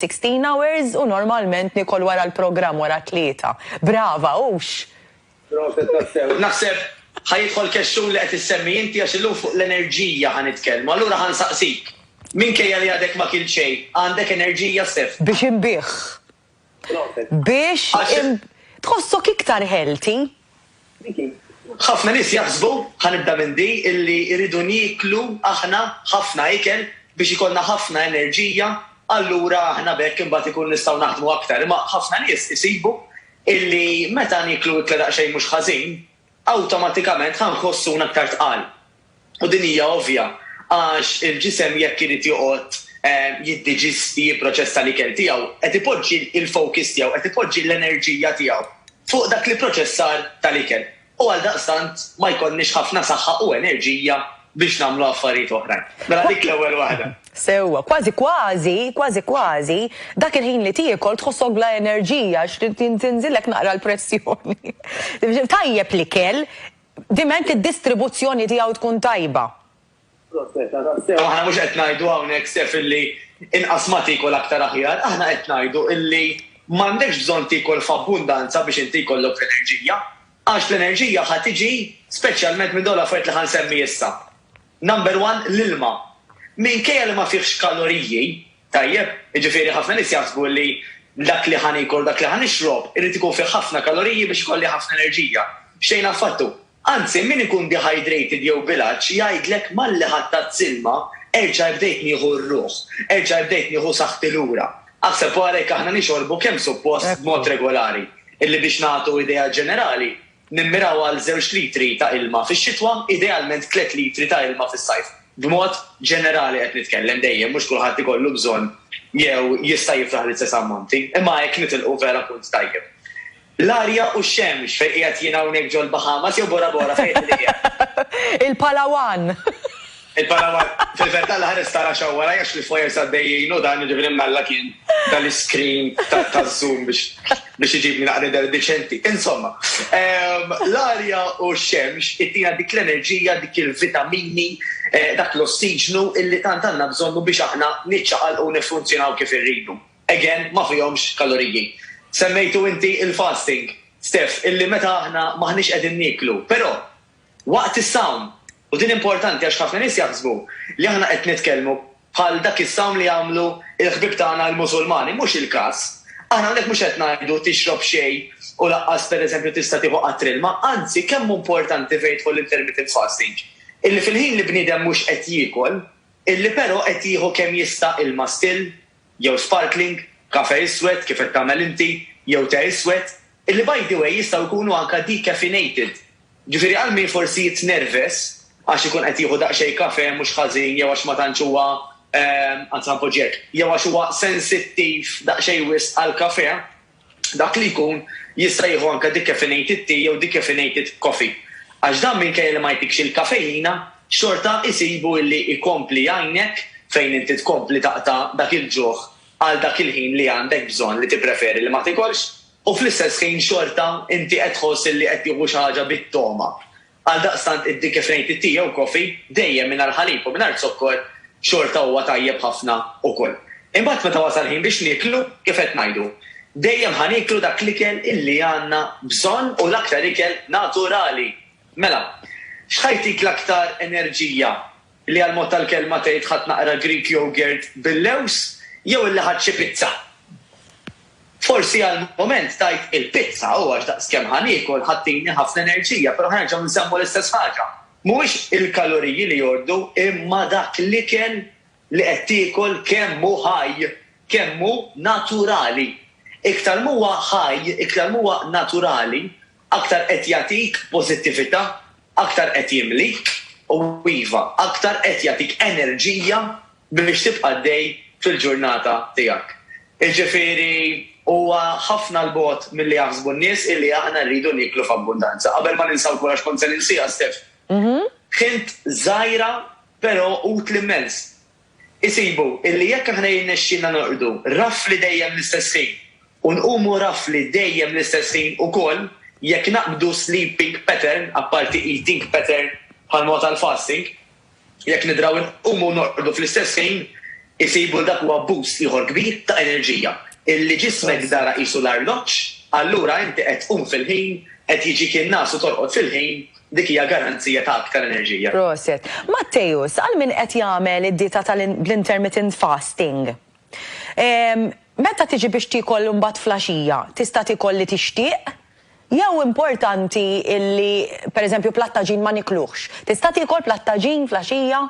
Sixteen hours u normalment nikol wara l-programm wara t-tlieta. Brava, hux? Proset tassew. Naħseb ħa jidħol kexxun li qed issemmi inti għax illum fuq l-enerġija ħa nitkellmu. Allura ħa nsaqsik, minkejja li għadek ma kilt xejn, għandek enerġija, Stef? Biex inbigħ. Proset. Biex. Għax. Tħossok iktar healthy? Ħafna nies jaħsbu, ħa nibda minn di, illi rridu nieklu aħna ħafna ikel biex ikollna ħafna enerġija, allura aħna b'hekk imbagħad ikun nistgħu naħdmu aktar. Imma ħafna nies isibu illi meta nieklu ikla daqsxejn mhux ħażin, awtomatikament ħa nħossuna aktar tqal. U din hija ovvja, għax il-ġisem jekk irid joqgħod jiddiġisti, jipproċessa l-ikel tiegħu, qed ipoġġi l-focus tiegħu, qed ipoġġi l-enerġija tiegħu fuq dak l-ipproċessar tal-ikel. U għaldaqstant ma jkollniex ħafna saħħa u enerġija biex nagħmlu affarijiet oħrajn. Mela dik l-ewwel waħda. Sewwa. Kważi kważi, kważi kważi, dak il-ħin li tiekol tħossok bla enerġija għax trid tinżillek naqra l-pressjoni. Tajjeb l-ikel, diment id-distribuzzjoni tiegħu tkun tajba. Proprjetà tassew, aħna mhux qed ngħidu hawnhekk sef illi inqas ma tiekol aktar aħjar, aħna qed ngħidu illi m'għandekx bżonn tiekol f'abbundanza biex inti jkollok l-enerġija, għax l-enerġija ħa tiġi speċjalment minn dawn l-affarijiet li ħa nsemmi issa. Number one, l-ilma. Minkejja li ma fihx kaloriji, tajjeb, jiġifieri ħafna nies jaħsbu li dak li ħa niekol, dak li ħa nixrob, irid ikun fih ħafna kaloriji biex ikolli ħafna enerġija. Xejn affattu. Anzi, min ikun dehydrated jew bil-għatx jgħidlek malli ħattat s-silma, erġa' bdejt nieħu r-ruħ, erġa' bdejt nieħu saħħti lura. Aħseb wara jekk aħna nixorbu kemm suppost b'mod regolari, illi biex nagħtu idea ġenerali, Nimmiraw għal żewġ litri ta' ilma fix-xitwa, idealment tliet litri ta' ilma fis-sajf. B'mod ġenerali qed nitkellem, dejjem mhux kulħadd ikollu bżonn jew jista' jiflaħ l-istess ammonti, imma hekk nitilqu vera punt tajjeb. L-arja u x-xemx, fejn qiegħed jien hawnhekk ġol-Bahamas jew Bora Bora fejn qed qiegħed? Il-Palawan! Il-Panama, fil-verità l-ħares ta' Russia huwa rajjax li f'wires għaddejjin u dan jiġifieri m'Alla kien ta l-iscreen taż-zoom biex iġibni naqra nidher deċenti. Insomma, l-arja u x-xemx ittina dik l-enerġija, dik il-vitamini, dak l-ossiġnu illi tant għandna bżonnu biex aħna niċċaqalqu u niffunzjonaw kif irridu. Again, ma fihomx kaloriji. Semmejtu inti il-fasting, Steph, illi meta aħna m'aħniex qegħdin nieklu, però, Waqt is-sawm. U din importanti għax ħafna nies jaħsbu li aħna qed nitkellmu bħal dak is-sawm li jagħmlu l-ħbieb tagħna l-Musulmani. Mhux il-każ. Aħna hawnhekk mhux qed ngħidu tixrob xejn u lanqas pereżempju tista' tieħu qatr ilma. Anzi, kemm hu importanti fejn jidħol l-intermittent fasting, illi fil-ħin li bniedem mhux qed jiekol, illi però qed jieħu kemm jista' ilma still, jew sparkling, kafè iswed, kif qed tagħmel inti, jew te iswed, illi by the way jistgħu jkunu anke decaffeinated. Ġifieri għal min forsi jitnerves għax ikun qed jieħu daqsxejn kafè mhux ħażin jew għax ma tantx huwa, anzi ħa npoġġi hekk, jew għax huwa sensittiv daqsxejn wisq għall-kafè, dak li jkun jista' jieħu anke decaffeinated tea jew decaffeinated coffee. Għax dan minkejja li ma jagħtikx il-kafejina, xorta jsibu illi jkompli jgħinek fejn inti tkompli taqta' dak il-ġuħ għal dak il-ħin li għandek bżonn li tippreferi li ma tikolx. U fl-istess ħin xorta inti qed tħoss illi qed tieħu xi ħaġa bit-togħma. Għaldaqstant id-di kif ngħid it-ti jew coffee, dejjem mingħajr ħalib u mingħajr zokkor, xorta huwa tajjeb ħafna ukoll. Imbagħad meta wasal ħin biex nieklu, kif qed ngħidu, dejjem ħa nieklu dak l-ikel illi għandna bżonn u l-aktar ikel naturali. Mela, x'ħa jtik l-aktar enerġija? li għall-mod tal-kelma tgħid ħadt naqra Greek yogurt bil-lewż jew illi ħadt xi pizza. Forsi għall-mument tgħid il-pizza u għax daqskemm ħa niekol ħa ttini ħafna enerġija, però ħa nerġgħu nsemmu l-istess ħaġa. Mhuwiex il-kaloriji li jordu imma dak l-ikel li qed tiekol kemm hu ħaj, kemm hu naturali. Iktar m'huwa ħaj, iktar m'huwa naturali aktar qed jagħtik pożittività, aktar qed jimlik u, iva, aktar qed jagħtik enerġija biex tibqa' għaddej fil-ġurnata tiegħek. Jiġifieri, huwa ħafna 'l bogħod milli jaħsbu n-nies illi aħna rridu nieklu f'abbundanza. Qabel ma ninsa wkoll, għax kont se ninsiha, Steph, ħint żgħira però utli mmens. Isibu illi jekk aħna jirnexxilna norqdu rafli dejjem l-istess ħin u nqumu rafli dejjem l-istess ħin ukoll jekk naqbdu sleeping pattern, apparti eating pattern bħalma huwa tal-fasting, jekk nidraw inqumu u norqdu fl-istess ħin, isibu li dak huwa boost ieħor kbir ta' enerġija, illi ġismek dara qisu l-arloġġ, allura inti qed tqum fil-ħin, qed jiġik in-ngħas u torqod fil-ħin, Dik hija garanzija ta' aktar enerġija. Prosit. Matteus, għal min qed jagħmel id-dieta tal bl-intermittent fasting, ehm, meta tiġi biex tiekol imbagħad flaxija, tista' tiekol li tixtieq? Jew importanti illi pereżempju platt ta' ġin ma nikluhx. Tista' tiekol platt ta' ġin flaxija?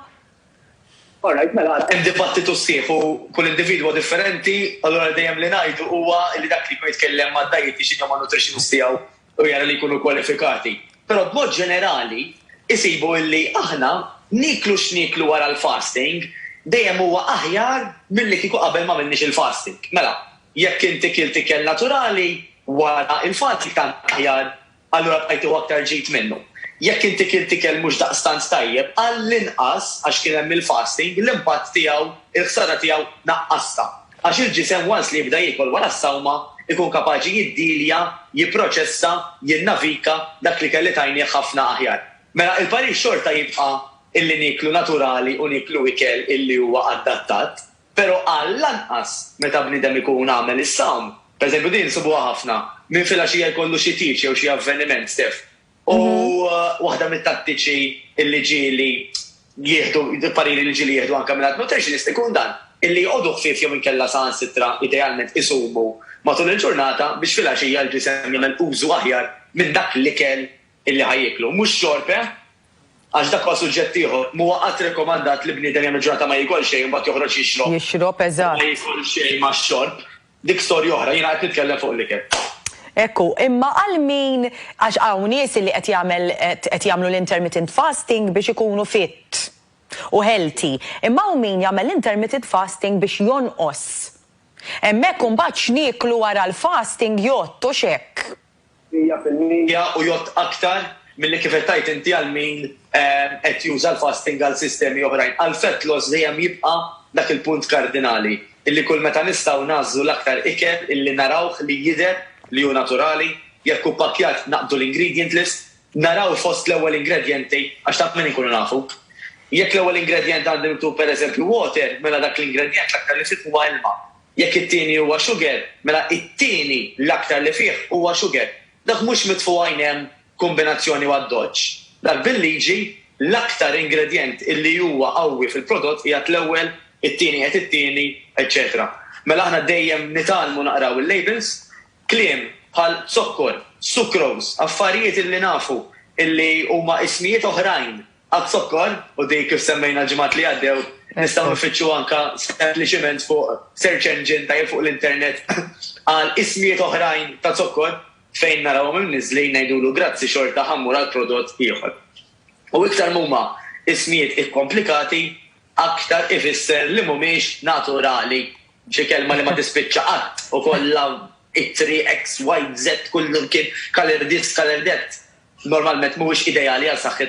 All right, mela, hemm dibattitu sħiħ u kull individwu huwa differenti, allura dejjem li ngħidu huwa li dak li jkun jitkellem mad-dietician jew man-nutritionist tiegħu u jara li jkunu kwalifikati. Però b'mod ġenerali jsibu illi aħna nieklu x'nieklu wara l-fasting dejjem huwa aħjar milli kieku qabel ma għamilniex il-fasting. Mela, jekk inti kilt ikel naturali wara l-fasting tant aħjar, allura bqajt tieħu aktar ġid minnu. Jekk inti kilt ikel mhux daqstant tajjeb, għall-inqas għax kien hemm il-fasting, l-impatt tiegħu, il-ħsara tiegħu naqqastha. għax il-ġisem once li jibda jiekol wara s-sawma jkun kapaċi jiddilja, jipproċessa, jinnavika dak li kelli tajnieh ħafna aħjar. Mela il-parir xorta jibqa' illi nieklu naturali u nieklu ikel illi huwa adattat, pero għall-anqas meta bniedem ikun għamel is-sawm, per eżempju din insibuha ħafna, minn filgħaxija jkollu xi tieġ jew xi avveniment, Steph, U waħda mit-tattiċi li ġieli jieħdu, pariri li ġieli jieħdu anke mingħand nutritionist ikun dan, illi jqogħdu ħfief jew inkella saħansitra idealment isumu matul il-ġurnata biex filgħaxija l-ġisem jagħmel użu aħjar minn dak l-ikel illi ħa jieklu. Mhux xorb, eh? Għax dak huwa suġġett ieħor. M'huwa qatt rekomandat li bniedem jagħmel ġurnata ma jiekol xejn u mbagħad joħroġ jixrob. Jixrob, eżatt. Ma jiekol xejn max-xorb. Dik storja oħra, jiena qed nitkellem fuq l-ikel. Hekk hu. Imma għal min, għax hawn nies li qed jagħmel qed jagħmlu l-intermittent fasting biex ikunu fit u healthy. Imma hawn min jagħmel l-intermittent fasting biex jonqos. Hemmhekk imbagħad x'nieklu wara l-fasting jgħodd, hux hekk? mija fil-mija u jgħodd aktar milli kif qed tgħid inti għal min qed juża l-fasting għal sistemi oħrajn. Għal fat loss dejjem jibqa' dak il-punt kardinali, illi kull meta nistgħu nagħżlu l-aktar ikel illi narawh li jidher li hu naturali, jekk hu ppakkjat naqbdu l-ingredient list, naraw fost l-ewwel ingredjenti għax ta' min inkunu nafu. Jekk l-ewwel ingredjent għandi miktub pereżempju water, mela dak l-ingredjent l-aktar li fih huwa ilma. Jekk it-tieni huwa xuger, mela it-tieni l-aktar li fih huwa xuger. Dak mhux mitfu' għajn hemm kumbinazzjoni u addoċċ. Dak bil-liġi, l-aktar ingredjent illi huwa qawwi fil-prodott qiegħed l-ewwel, it-tieni qiegħed it-tieni, eċċetera. Mela aħna dejjem nitgħallmu naqraw il-labels. Kliem bħal zokkor, sucrose, affarijiet illi nafu illi huma ismijiet oħrajn Għaz-zokkor, u dik kif semmejna l-ġimgħat li għaddew, nistgħu nfittxu anke sempliċiment fuq search engine ta' jew fuq l-internet għal ismijiet oħrajn ta' zokkor, fejn narawhom imniżżlin ngħidulu grazzi xorta ħa mmur għal prodott ieħor. U iktar m'huma ismijiet ikkomplikati, aktar ifisser li m'humiex naturali, xi kelma li ma tispiċċa qatt u kollha ittri eks, wajt, zett, kullum kien, kalerdiz, kalerdett, normalment m'huwiex ideali għal saħħitna.